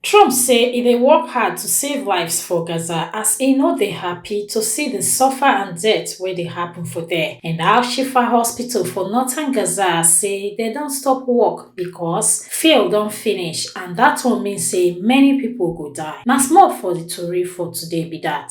Trump say e dey work hard to save lives for Gaza as e no dey happy to see di suffer and death wey dey happun for there and Al-Shifa hospital for northern Gaza say dem don stop work becos fuel don finish and dat one mean say many pipo go die. Na small for di tori for today be dat.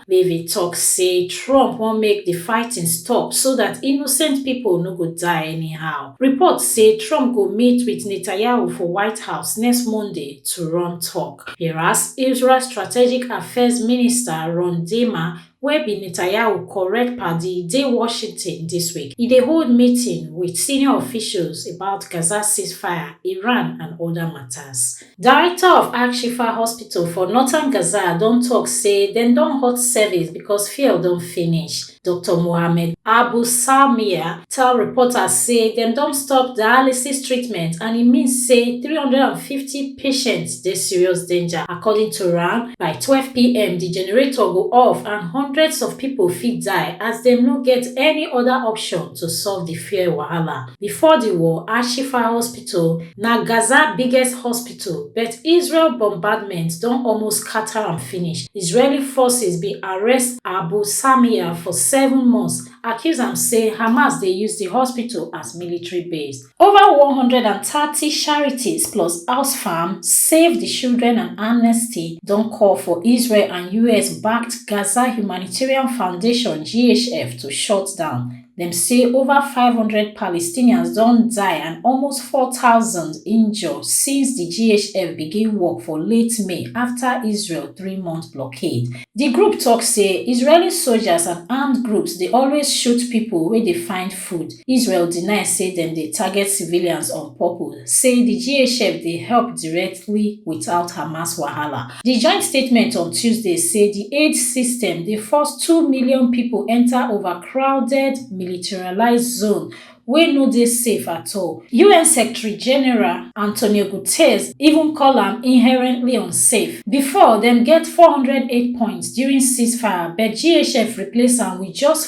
Levy tok say Trump wan make di fighting stop so dat innocent pipo no go die anyhow. Reports say Trump go meet wit Netanyahu for White House next Monday to run tok. Whereas Israel strategic affairs minister Ron Dermer, wey be Netanyahu correct padi, dey Washington dis week. E dey hold meeting wit senior officials about Gaza ceasefire, Iran and oda matas. Director of Al-Shifa Hospital for northern Gaza don tok say dem don halt service because fuel don finish. Doctor Mohammed Abu Salmiya tell reporters say dem don stop dialysis treatment and e mean say three hundred and fifty patients dey serious danger. According to am, by twelve pm di generator go off and hundreds of pipo fit die as dem no get any oda option to solve di fuel wahala. Before di war, Al-Shifa Hospital. hospital na gaza biggest hospital but israel bombardment don almost scata am finish israeli forces bin arrest abu salmiya for seven months accuse am say hamas dey use di hospital as military base over one hundred and thirty charities plus oxfam save di children and amnesty don call for israel and us backed gaza humanitarian foundation ghf to shut down Dem say over five hundred Palestinians don die and almost four thousand injure since di GHF begin work for late May afta Israel three-month blockade. Di group tok say Israeli soldiers and armed groups dey always shoot pipo wey dey find food. Israel deny say dem dey target civilians on purpose, say di GHF dey help directly without Hamas wahala. Di joint statement on Tuesday say di aid system dey force two million pipo enta overcrowded militarised zone wey no dey safe at all. UN Secretary General Antonio Guterres even call am inherently unsafe. Bifor, dem get four hundred aid points during ceasefire but GHF replace am wit just.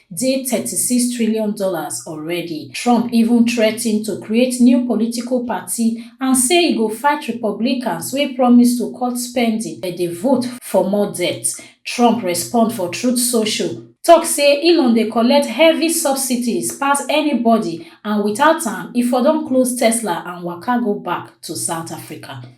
dey thirty six trillion dollars already. Trump even threaten to create new political party and say e go fight Republicans wey promise to cut spending but dey vote for more debt. Trump respond for Truth Social, talk say Elon dey collect heavy subsidies pass anybody and without am e for don close Tesla and waka go back to South Africa.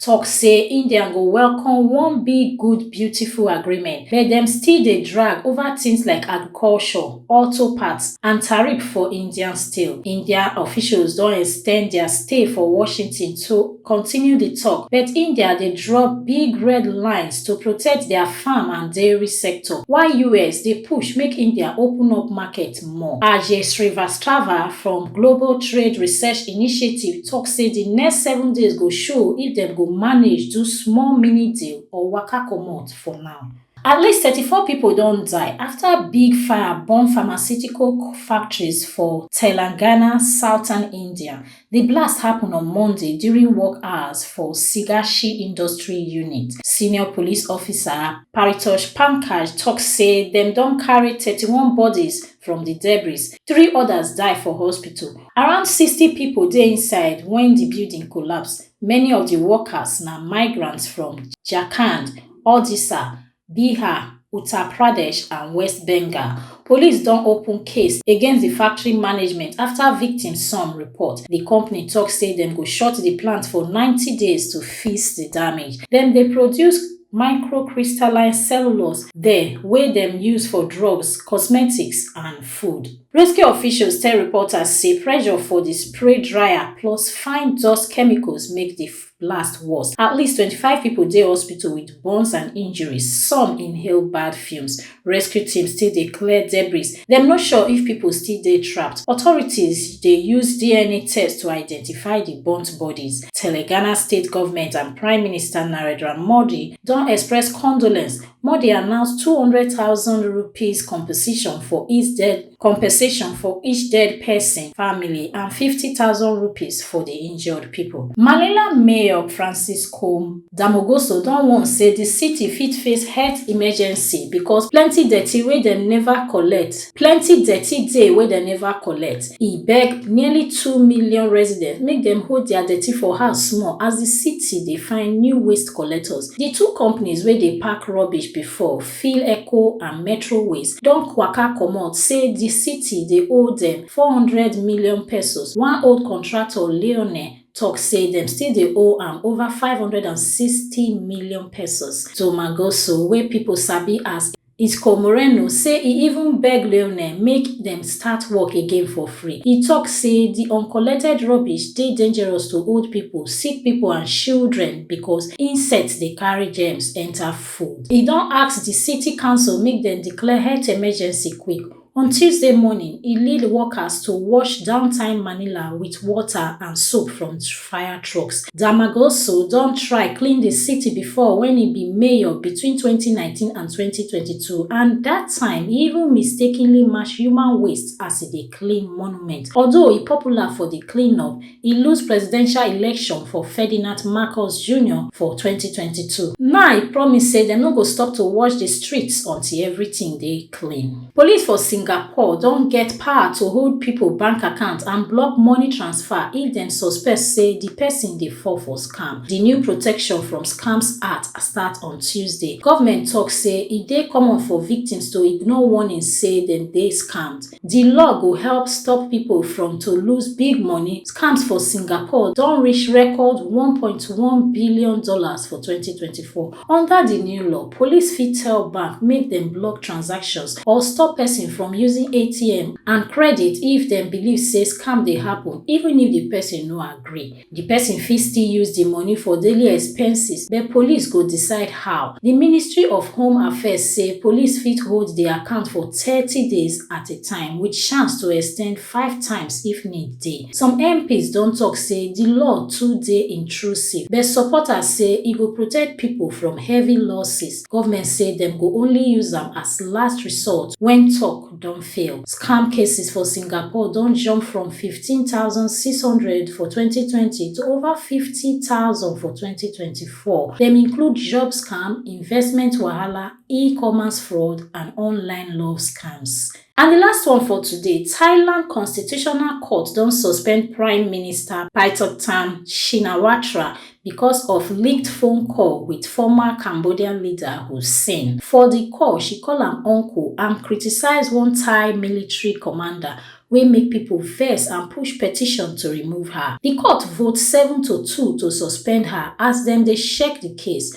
tok say india go welcome one big good beautiful agreement but dem still dey drag ova tins like agriculture auto parts and tariff for indian steel india officials don ex ten d dia stay for washington to continue di tok but india dey draw big red lines to protect dia farm and dairy sector while us dey push make india open up market impact more. Ajay Srivastava from Global Trade Research Initiative talk say di next seven days go show if dem go manage do small mini deal or waka comot for now. At least thirty-four pipo don die afta big fire burn pharmaceutical factories for Telangana, southern India. Di blast happun on Monday during work hours for Sigashi Industry Unit. Senior police officer, Paritosh Pankaj tok say dem don carry thirty one bodies from di debris, three odas die for hospital. Around sixty pipo dey inside wen di building collapse. Many of di workers na migrants from Jharkhand, Odisha bihar uttar pradesh and west bengal police don open case against di factory management afta victim son report di company tok say dem go shut di plant for ninety days to fix di damage dem dey produce microcrystalline cellulose there wey dem use for drugs cosmetics and food rescue officials tell reporters say pressure for di spray dryer plus fine dust chemicals make di last worst. At least 25 people dey hospital with burns and injuries. Some inhale bad fumes. Rescue teams still dey clear debris. Dem no sure if people still dey trapped. Authorities dey use DNA test to identify the burnt bodies. Telangana state government and Prime Minister Narendra Modi don express condolence. Modi announce 200,000 rupees compensation for each dead compensation for each dead pesin family and fifty thousand rupees for di injured pipo. Manila Mayor Francis Kom Damogoso don warn say di city fit face health emergency because plenty dirty wey dem neva collect plenty dirty dey wey dem neva collect. E beg nearly two million residents make dem hold dia dirty for house small as di city dey find new waste collectors. Di two companies wey dey pack rubbish bifor, Phil Eco and Metro Ways don kwaka comot say di city dey owe dem K four hundred million, one old contractor Leone tok say dem still dey owe am over K five hundred and sixty million. Zoma Goso wey pipo sabi as Isco Moreno say e even beg Leone make dem start work again for free. E tok say di uncollected rubbish dey dangerous to old pipo, sick pipo and shildren becos insects dey carry germs enta food. food. E don ask di city council make dem declare health emergency quick. On Tuesday morning, e lead workers to wash downtown Manila wit water and soap from fire trucks. Damagoso don try clean di city before wen e be mayor between twenty nineteen and twenty twenty two and dat time e even mistakenly match human waste as e dey clean monument. Although e popular for di clean-up, e lose presidential election for Ferdinand Marcos Jr. for 2022. Now e promise say dem no go stop to watch di streets until everything dey clean. Police for Singapore don get power to hold pipo bank account and block money transfer if dem suspect say di pesin dey fall for scam. Di new protection from Scams Act start on Tuesday. Government tok say e dey common for victims to ignore warnings say dem dey scammed. Di law go help stop pipo from to lose big money, scams for Singapore don reach record one point one billion dollars for twenty twenty four. Under di new law, police fit tell bank make dem block transactions or stop pesin from using ATM and credit if dem believe say scam dey happen, even if di pesin no agree. Di pesin fit still use di money for daily expenses but police go decide how. Di Ministry of Home Affairs say police fit hold di account for thirty days at a time wit chance to extend five times if need dey. Some MPs don tok say di law too dey intrusive but supporters say e go protect pipo from heavy losses. Govment say dem go only use am as last resort wen tok don fail. Scam cases for Singapore don jump from fifteen thousand, six hundred for twenty twenty to over fifty thousand for twenty twenty four. Dem include job scam, investment wahala, e-commerce fraud and online love scams. And di last one for today, Thailand Constitutional Court don suspend Prime Minister Paetongtarn Shinawatra because of leaked phone call with former Cambodian leader Hun Sen. For the call, she call am uncle and criticize one Thai military commander wey make people vex and push petition to remove her. The court vote seven to two to suspend her as dem dey check the case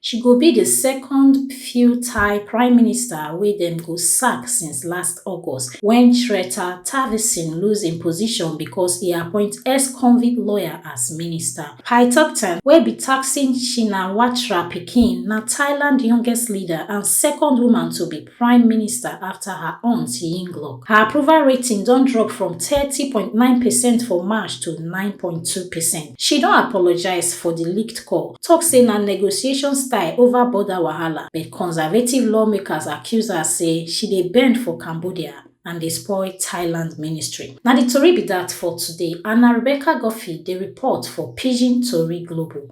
She go be di second few Thai prime minister wey dem go sack since last August wen Srettha Thavisin lose im position because e appoint ex-convict lawyer as minister. Paetongtarn, wey be Thaksin Shinawatra pikin, na Thailand youngest leader and second woman to be Prime Minister afta her aunt Yingluck. Her approval rating don drop from thirty point nine percent for March to nine point two percent. She don apologise for di leaked call, tok say na negotiation style ova border wahala, but Conservative lawmakers accuse her say she dey bend for Cambodia and dey spoil Thailand ministry. Na di tori be dat for today, Anna Rebecca Guffey dey report for Pidgin Tori Global.